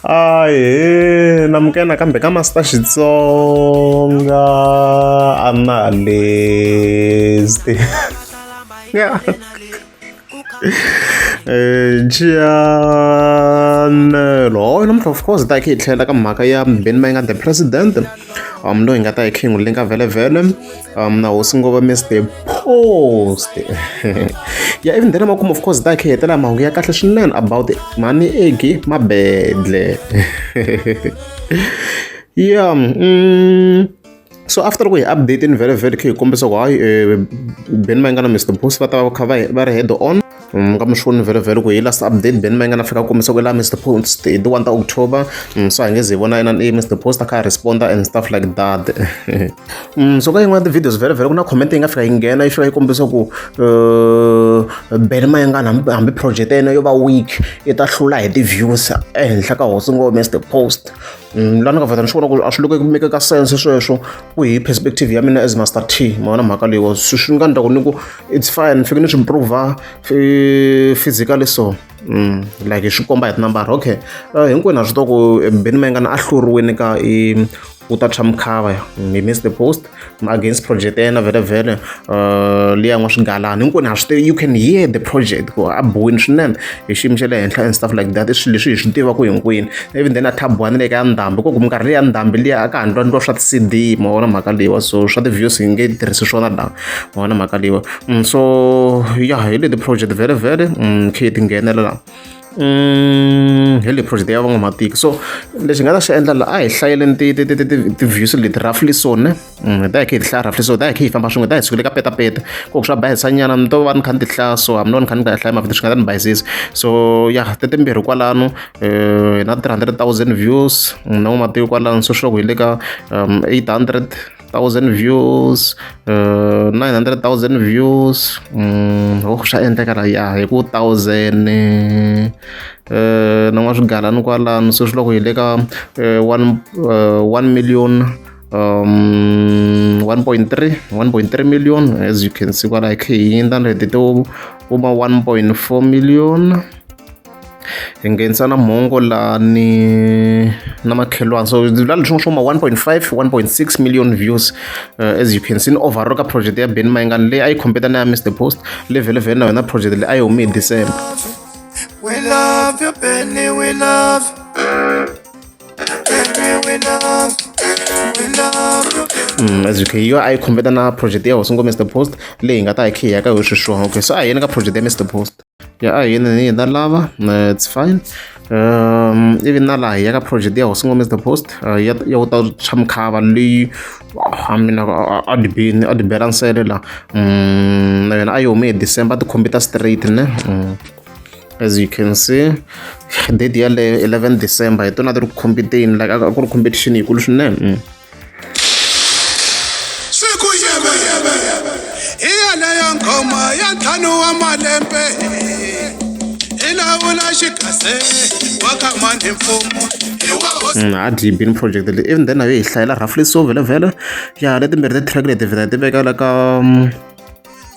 ahe namukena kambe ka masita xitsonga analyst yeah. Eh, Gianello hoy namuntlha of course ta hi tlhela ka mhaka ya mbheni ma yi nga the president um loyi hi nga ta hi khingulinga vhele vhele um na hosi ngova mr post ya even then amakumu of course takhe hetela mahungu ya kahle swinene about mhani egi mabedle ya mm, so after ku hi update ni very very khe hi kombisa ku hayi um eh, beni va nga na mr post va ta va kha va ri head on mm, ka mushoni vhelovhelo ku hi last update ben ma yi nga na fika kombisa ku la mr post hi ti 1 ta october mm, so hi nge ze hi vona yena mr post a kha a responda and stuff like that mm, so ka yin'wana ti-videos vhelovhelo ku na comment yi nga fika yi nghena yi fika yi kombisa ku uh, ben ma yi nga hambi project ya yena yo va week yi ta hlula hi ti-views ehenhla ka hosi ngo mr post Mm, la ni nga vheta ni swi vona ku a swi loko ku mekeka sense sweswo ku hi perspective ya mina as master t mavona mhaka leyiwa swi swi nga ndla ku ni ku it's fine fike ni swi improva physically so mm, like swi komba hi tinambara okay eh, hinkwenu a swi to ku eh, beni mayengana a hluriwini ka i u ta tshwa mukhava hi missed the post against project ya yena vhelavhele uh, leyi yan'wa swigalana hinkwenu ha swi tivi you can hear the project ku a bohini swinene hi xiyimo xa le henhla and stuff like that i swilo leswi hi swi tivaka hinkwenu even then a thabwani le ka ya ndhambi koku minkarhi leyi ya ndhambi liya a ka ha ndwa ndwa swa ti-cd ma vona mhaka leyiwa so swa ti-views hi nge tirhisi swona la ma vona mhaka leyiwa mm, so ya hi leti project vhele vhele mm, khe ti nghenela la Mm, hi leyi project ya van'wamatiko so lexi nga ta xi endla la a hi hlayeleni ti-views leti roughly so ne mm, hi ta hi khe hi ti hlaya roughly so hi ta hi khe hi famba swin'we hi ta hi sukile ka petapeta ku swa bayisanyana ni to va ni kha ni ti hlaya so hambi no ni kha ni nga hlaya mavito swi nga ta ni bayisisa so ya te timbirhi kwalano eh, hi na three hundred thousand views mm, na n'wamatiko kwalano so swi loko hi le ka um, eight hundred thousand views uh, nine hundred thousand views mm, oh swa endleka la ya hi ku thousand eh, eh, na n'wa swigalani kwalano se swi loko hi le ka eh, one uh, one million um 1.3 1.3 million as you can see kwala hi khe hi yindla leti to kuma 1.4 million hi nghenisa na mhongo la ni na makhelwana so la leswi swo ma 1.5 1.6 million views uh, as you can see ni overall ka project ya ben mayingani leyi a yi competa na ya mr post level vhen na yona project leyi a yi hume hi december We love you, Benny, we love. Benny, we love. We love you, Benny. Mm, as you can yo a yi competa na project ya hosi ngo mr post leyi hi nga ta hi khiya ka hi swiswona okay so a hi yeni ka project ya mr post ya a hina ni hina lava eh, it's fine um even na laha ya ka project ya hosi ngomez the post uh, ya ya ku ta tshwa mukhava leyi a mina a ni bini a ni bela nsele la um na yona a yi hume hi december ti computer straight ne mm. as you can see date yaleyo 11 december hi tona ti ri ku competeni like a ku ri competition yikulu swinene mm. siku yebe hi yeleyo nghoma ya ntlhanu wa malembe hi lawula xikase wa ka mani mfumo hi wa hosi Mm, a deep in project leyi even then nayo hi hlayela roughly so vhele vhele ya letimbirhi ti-track leti vhela ti veka la ka mm,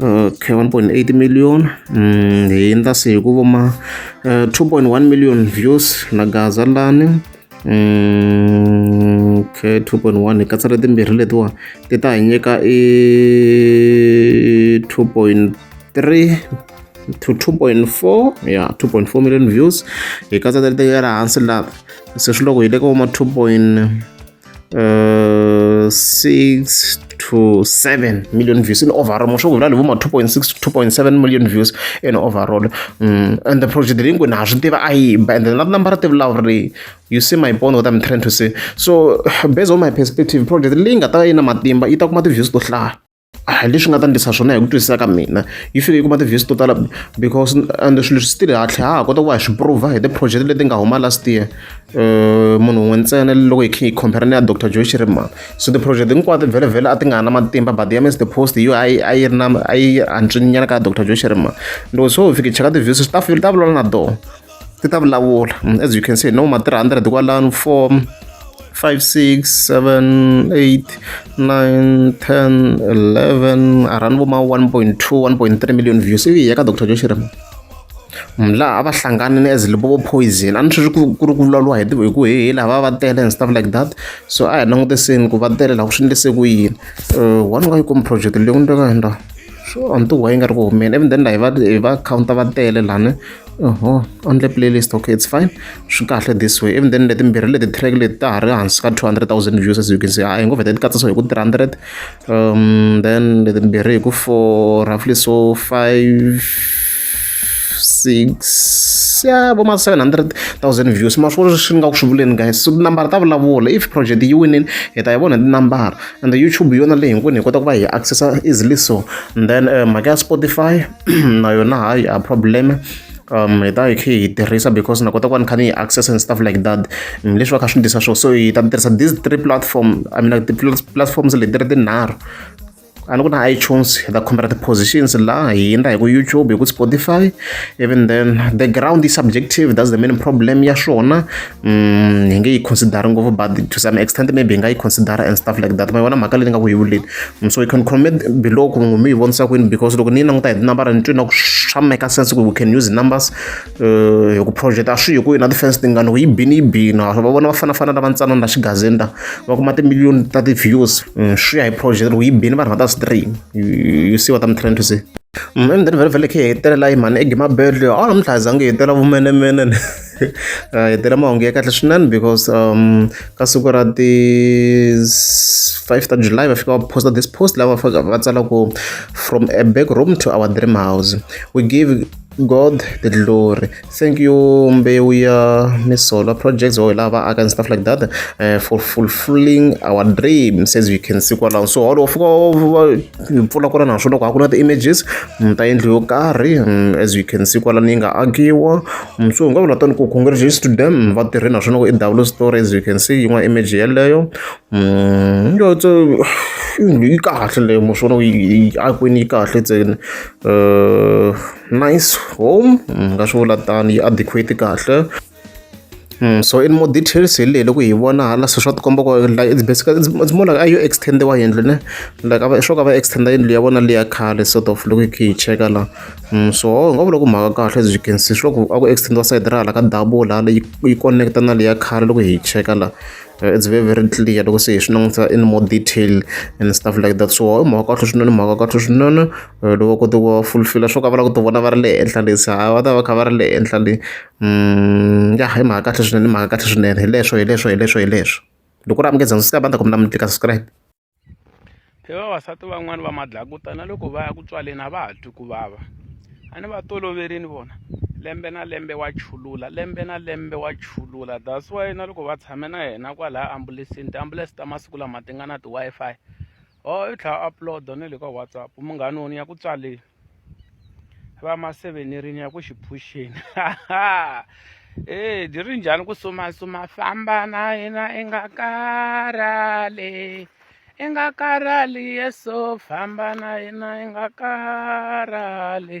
okay 1.8 million mm, hi ndza se hi ku voma uh, eh, 2.1 million views na gaza lani mm, okay 2.1 hi katsela timbirhi letiwa ti ta hi nyika i 2.3 to 2.4 ya yeah, 2.4 million views hi katsa tali tekela hansi laha se swi loko hi le ka voma 2. uh, 6 to 7 million views in overall musho kuvula livo ma 2.6 to 2.7 million views in overall mm. and the project leyi ngwini ha swi tiva a yimba and then na tinambara ti vulawuri leyi you see my point what i'm trying to say so based on my perspective project leyi nga ta va yi na matimba yi ta kuma ti-views to hlaya a leswi nga ta ndlisa swona hi ku twisisa ka mina yi fike yi kuma ti-views to tala because and swilo swi tile hatlhe ha ha kota ku va hi swi prova hi ti-project leti nga huma last year um munhu un'we ntsena loko hi khe hi compare na ya dr joy shirimana so ti-project hinkwato vhelevhele a ti nga ha na matimba but ya mr post yo a yi a yi ri na a yi antswinyana ka ya dr joy shirimana loko so hi fike cheka ti-views swi ta ta vulavula na doho ti ta vulavula as you can see no ma 300 kwalano 4 5 6 7 8 9 10 11 around vo ma 1.2 1.3 million views ivi ya ka dr joshirema laha a va hlangane ni as libovo poison a ni swi ku ri ku vulavuriwa hi hi ku hehe laha va va tele and stuff like that so a hi langutiseni ku va tele laha ku swi endlise ku yini eh, one ka yi komi project leyi ku ni teka yendla so a ni tiwa yi nga ri ku humeni even then laha hi va hi va counter va tele lani oho only playlist okay it's fine swi kahle this way even then letimbirhi leti track leti ta ha ri hansi ka 200000 views as you can see a hi ngo vheta ti katsa so hi ku 300 um then letimbirhi hi ku for roughly so 5 6 ya vo ma 700000 views ma swi swi nga ku swi vuleni guys so tinambara ta vulavula if project yi winini hi ta yi vona tinambara and youtube yona leyi hinkwenu hi kota ku va hi accessa easily so and then eh, mhaka ya spotify na yona hayi a problem um hi ta hi khe hi tirhisa because na kota ku va ni kha ni yi access and stuff like that mm, leswi va kha swi ndisa swona so hi ta tirhisa these three platform i mean like ti-platforms leti ri tinharhu a ni ku na itunes hi ta khomela ti-positions laha hi endla hi ku youtube hi ku spotify even then the ground is subjective that's the main problem ya swona Mm, hi nge yi considere ngopfu but to some extent maybe hi nga yi considera and stuff like that ma yona mhaka leyi ni nga ku yi vuleni mm, so you can comment below ku mi yi vonisa kwini because loko ni yi languta hi tinambara ni twina ku swa make sense ku we can use numbers uh, hi ku project a swi hi ku yona ti-fans tingani ku yi bini yi bina va vona va fanafana lava ntsanana la xigazini la va kuma timiliyoni ta ti-views mm, swi ya hi project loko yi bini vanhu va ta stream you see what i'm trying to say mm, and then vele vele khe hi hetelela yi mhani egimabedle a ni mdlazange hi tela vumenemene uh, hi tela mahungu ya kahle swinene because um ka siku ra ti 5 ta july va fika va posta this post lava va tsala ku from a back room to our dream house we give god the glory thank you mbewu ya misolo projects or lava aka and stuff like that uh, for fulfilling our dream says you can see kwalaho so holo fika mpfula ku ri na swona loko a ku na ti-images ta yindlu yo karhi as you can see kwalani yi nga akiwa so hi nga vula tani ku congratulations to them va tirhe na swona ku i double story as you can see yin'wana image yeleyo yotso yindlu yi kahle leyo mo swona yi akwini yi kahle ntsena nice home nga swi vula tani yi adequate kahle so in more details hi leyi loko hi vona hala se swa tikomba ku like it's basically it's, it's more like a yo extendiwa yindlu ne like ava swo ka va extenda yindlu ya vona leya khale sort of loko hi khe hi cheka la mm, so hi nga vula ku mhaka kahle as you can see swi loko a ku extendiwa side ra hala ka double hala yi connecta na leya khale loko hi cheka la uh, it's very very clear loko se hi swi langutisa in more detail and stuff like that so i mhaka kahle swinene mhaka kahle swinene eh, loko kote ku fulfila swo ka va lava ku ti vona va ri le henhla lesi ha va ta va kha va ri le henhla le ya hi mhaka kahle swinene i mhaka kahle swinene hi leswo hi leswo hi leswo hi leswo loko u ri amukela ndzi ta va ni ta ku mi na mi tlika subscribe hi vavasati van'wani va madlakuta na loko va ya ku tswaleni a va ha twi ku vava a ni va toloverini vona lembe na lembe wa chulula lembe na lembe wa chulula that's why na loko va tshame na yena kwalaya ambulesini tiambulense ta masiku lama ti nga na ti-wi-fi or oh, i tlhela upload na le ka whatsapp munghani wona ya ku tswaleni va ma sevenerini ya ku xi phuxeni e byi ri njhani ku sumasuma famba na yena i nga karhali i nga karhali yeso famba na yena i nga karhali